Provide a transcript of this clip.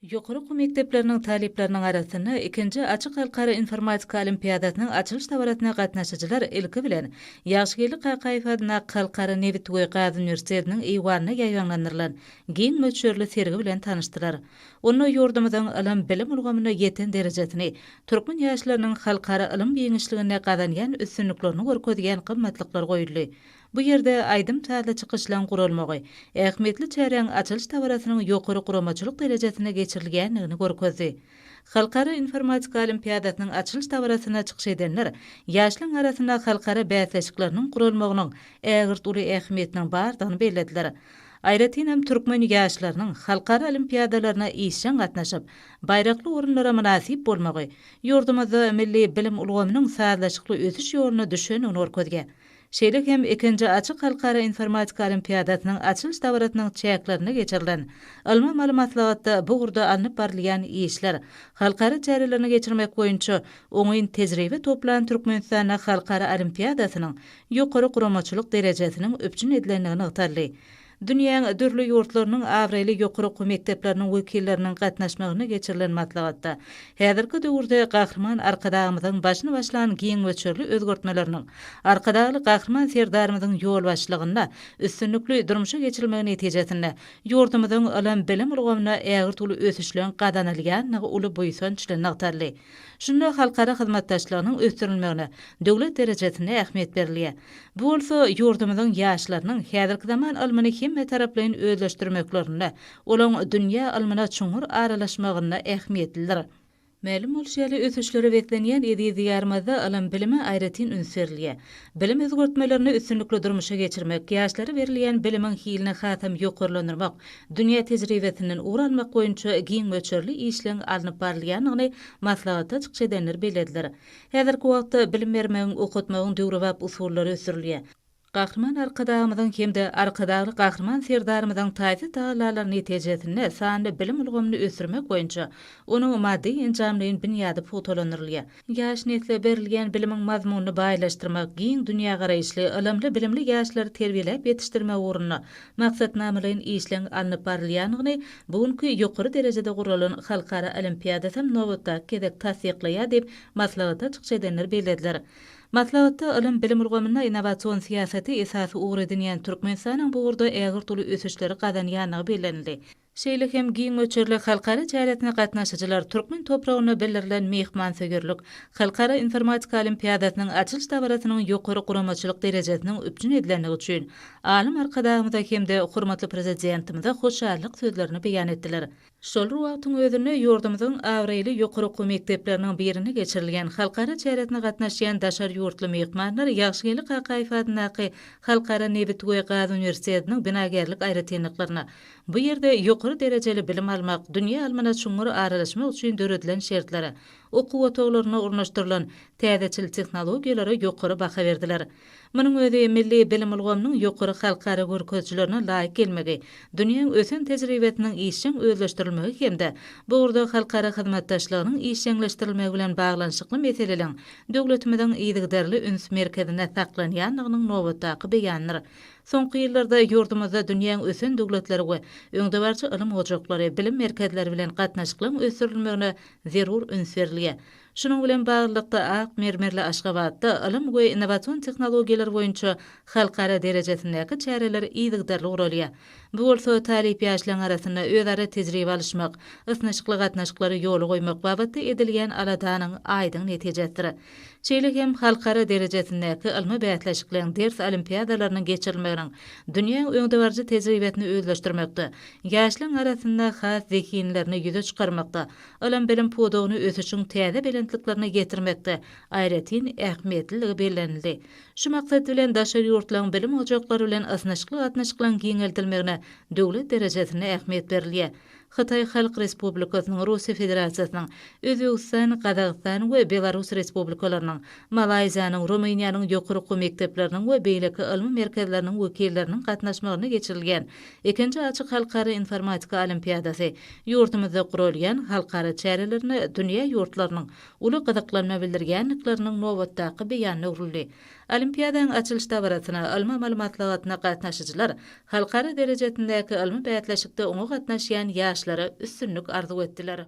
Ýokary okuw mekdepleriniň talyplarynyň arasynda ikinji Açyk halkara informatika olimpiadasynyň açylyş dabarasyna gatnaşyjylar ilki bilen Ýagşygeldi Kakaýew adyndaky Halkara nebit we gaz uniwersitetiniň eýwanynda ýaýbaňlandyrylan giň möçberli sergi bilen tanyşdylar. Onda ýurdumyzyň ylym-bilim ulgamynda ýeten derejesini, türkmen ýaşlarynyň halkara ylym giňişliginde gazanýan üstünliklerini görkezýän gymmatlyklar goýuldy. Bu ýerde aýdym-sazly çykyşlaryň guralmagy, ähmiýetli çäräň açylyş dabarasynyň ýokary guramaçylyk derejesinde geçirilýändigini görkezdi. Halkara informatika olimpiadasynyň açylyş dabarasynda çykyş edenler ýaşlaryň arasynda halkara bäsleşikleriniň guralmagynyň ägirt uly ähmiýetiniň bardygyny bellediler. Aýratynam türkmen ýaşlarynyň halkara olimpiadalaryna işjeň gatnaşyp, baýrakly orunlara mynasyp bolmagy ýurdumyzda milli bilim ulgamynyň sazlaşykly ösüş ýoluna düşendigini görkezýär. Şeýle hem, ikinji açyk halkara informatika olimpiadasynyň açylyş dabarasynyň çäklerinde geçirilen ylmy-amaly maslahatda bu ugurda alnyp barylýan işler, halkara çärelerini geçirmek boýunça oňyn tejribe toplan Türkmenistanda halkara olimpiadasynyň ýokary guramaçylyk derejesiniň üpjün edilendigi nygtaldy. Dünýäň dürli ýurtlarynyň abraýly ýokary okuw mekdepleriniň wekilleriniň gatnaşmagynda geçirilen maslahatda häzirki döwürde Gahryman Arkadagymyzyň başyny başlan giň möçberli özgertmeleriniň Arkadagly Gahryman Serdarymyzyň ýolbaşçylygynda üstünlikli durmuşa geçirilmegi netijesinde ýurdumyzyň ylym-bilim ulgamynda ägirt uly ösüşleriň gazanylýandygy uly buýsanç bilen nygtaldy. Şunda halkara hyzmatdaşlygynyň ösdürilmegine döwlet derejesinde ähmiýet berilýär. Bu bolsa ýurdumyzyň ýaşlarynyň häzirki zaman ylmyny hemmetaraplaýyn özleşdirmeklerinde, olaň dünýä ylmyna çuňňur aralaşmagynda ähmiýetlidir. Mälim bolşy ýaly, ösüşlere beslenýän eziz Diýarymyzda ylym-bilime aýratyn üns berilýär. Bilim özgertmelerini üstünlikli durmuşa geçirmek, ýaşlara berilýän bilimiň hilini hasam ýokarlandyrmak, dünýä tejribesinden ugur almak boýunça giň möçberli işleň alnyp barylýandygyny maslahatda çykyş edenler bellediler. Häzirki wagtda bilim bermegiň, okatmagyň döwrebap usullary ösdürilýär. Gahryman Arkadagymyzyň hem-de Arkadagly Gahryman Serdarymyzyň taýsyz tagallalary netijesinde sanly bilim ulgamyny ösdürmek boýunça onuň maddy-enjamlaýyn binýady pugtalandyrylýar. Ýaş nesle berilýän bilimiň mazmunyny baýlaşdyrmak, giň dünýägaraýyşly, ylymly-bilimli ýaşlary terbiýeläp ýetişdirmek ugrunda maksatnamalaýyn işleň alnyp barylýandygyny bu günki ýokary derejede guralan halkara olimpiadasam nobatdaky gezek tassyklaýar diýip, maslahata çykyş edenler bellediler. Maslahatda ylym-bilim ulgamynda innowasion syýasaty esasy ugur edinýän Türkmenistanyň bu ugurda ägirt uly ösüşleri gazanýandygy bellenildi. Şeýle hem giň möçberli halkara çäresine gatnaşyjylar türkmen topragynda bildirilen myhmansöýerlik, Halkara informatika olimpiadasynyň açylyş dabarasynyň ýokary guramaçylyk derejesiniň üpjün edilendigi üçin Alym Arkadagymyza hem-de hormatly Prezidentimize hoşallyk sözlerini beýan etdiler. Şol bir wagtyň özünde ýurdumyzyň abraýly ýokary okuw mekdepleriniň birinde geçirilýän halkara çäresine gatnaşýan daşary ýurtly myhmanlar Ýagşygeldi Kakaýew adyndaky Halkara nebit we gaz uniwersitetiniň binagärlik aýratynlyklaryna, Bu ýerde ýokary derejeli bilim almak, dünýä ylmyna çuňňur aralaşmak üçin döredilen şertlere, okuw otaglaryna ornaşdyrylan täzeçil tehnologiýalara ýokary baha berdiler. Munuň özi milli bilim ulgamynyň ýokary halkara görkezijilerine laýyk gelmegi, dünýäň ösen tejribesiniň işjeň özleşdirilmegi hem-de bu ugurda halkara hyzmatdaşlygynyň işjeňleşdirilmegi bilen baglanyşykly meseleleň döwletimiziň yzygiderli üns merkezinde saklanýandygynyň nobatdaky beýanydyr. Soňky ýyllarda ýurdumyzda dünýäň ösen döwletleri we öňdebaryjy ylym ojaklary, bilim merkezleri bilen gatnaşyklygyň ösdürilmegine zerur üns berilýär. Şunuň bilen baglylykda, ak mermerli Aşgabatda ylym we innowasion tehnologiýalar boýunça halkara derejesindäki çäreler yzygiderli guralýar. Bu bolsa talyp ýaşlaryň arasynda özara tejribe alyşmak, ysnyşykly gatnaşyklary ýola goýmak babatda edilýän aladanyň aýdyň netijesidir. Şeýle hem halkara derejesindäki ylmy bäsleşikleň, ders olimpiadalarynyň geçirilmeginiň dünýäň öňdebaryjy tejribesini özleşdirmekde, ýaşlaryň arasynda has zehinlerini ýüze çykarmakda, ylym-bilim pudagyny ösüşiň täze belentliklerine ýetirmekde aýratyn ähmiýetliligi bellenildi. Şu maksat bilen, daşary ýurtlaryň bilim ojaklary bilen ysnyşykly gatnaşyklaryň giňeldilmegine döwlet derejesinde ähmiýet berilýär. Hytaý Halk Respublikasynyň, Russiýa Federasiýasynyň, Özbegistan, Gazagystan we Belarus Respublikalarynyň, Malaýziýanyň, Rumyniýanyň ýokary okuw mekdepleriniň we beýleki ylmy merkezleriniň wekilleriniň gatnaşmagynda geçirilýän ikinji açyk halkara informatika olimpiadasy ýurdumyzda guralýan halkara çärelerine dünýä ýurtlarynyň uly gyzyklanma bildirýändikleriniň nobatdaky beýanyna öwrüldi. Olimpiadanyň açylyş dabarasyna, ylmy-amaly maslahatyna gatnaşyjylar halkara derejesindäki ylmy bäsleşikde oňa gatnaşýan ýaşlara üstünlik arzuw etdiler.